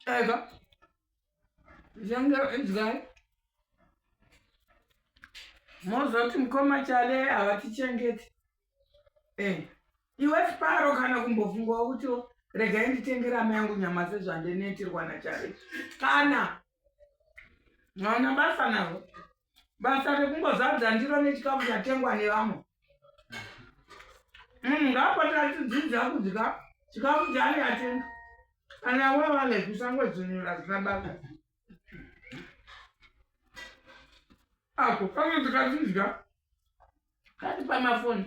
Ega. Zanga idzai. Mozoti mkoma chale havatichengeti. Eh. Iwe siparo kana kumbofungwa kuti regai nditengera mai yangu nyama sezvandinetirwa nachari. Kana. Mwana basa navo. basa rekungozadza ndiro nechikafu chatengwa nevamwe munhu ngaapatira tidzidza kudya chikafu chaani atenga kana wevale kusangodzonyora zina baka ako kano tikatidya kati pamafoni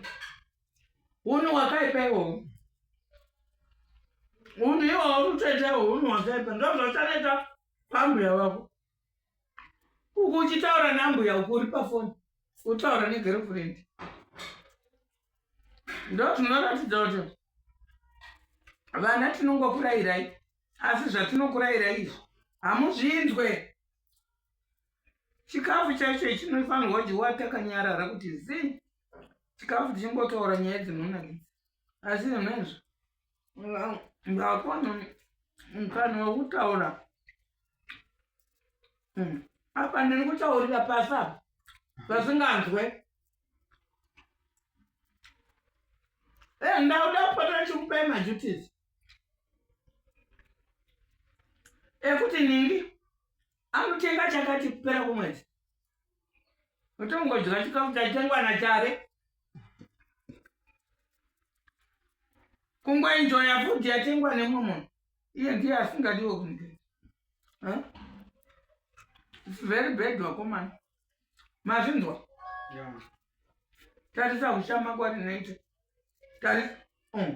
unu wakaipa iwowo unu iwowo utoita iwo unu wakaipa ndozvachaneta pambuya vako uku uchitaura nambuya uku uri pafoni utaura negirlfriend ndo zvinoratidza kuti vana tinongokurayirai asi zvatinokurayirai izvi hamuzvinzwe chikafu chaicho chinofanirwa kudyiwa takanyarara kuti zii chikafu tichingotaura nyaya dzinonakidza asi zvinhu izvo ndakona mukana wekutaura hmm. apa ndiri kutaurira pasi apa pasinganzwe eh, ndauda kupota chikupai majutis ekuti ningi anotenga chakati kupera kwemwedzi otongodya chikafu chaitengwa nachare kungoenjoya fudhi yatengwa nemumwe munhu iye ndiye asingadiwe kunge very bad wakomana mazvinzwa tarisa kushama kwari naite tarisa mm.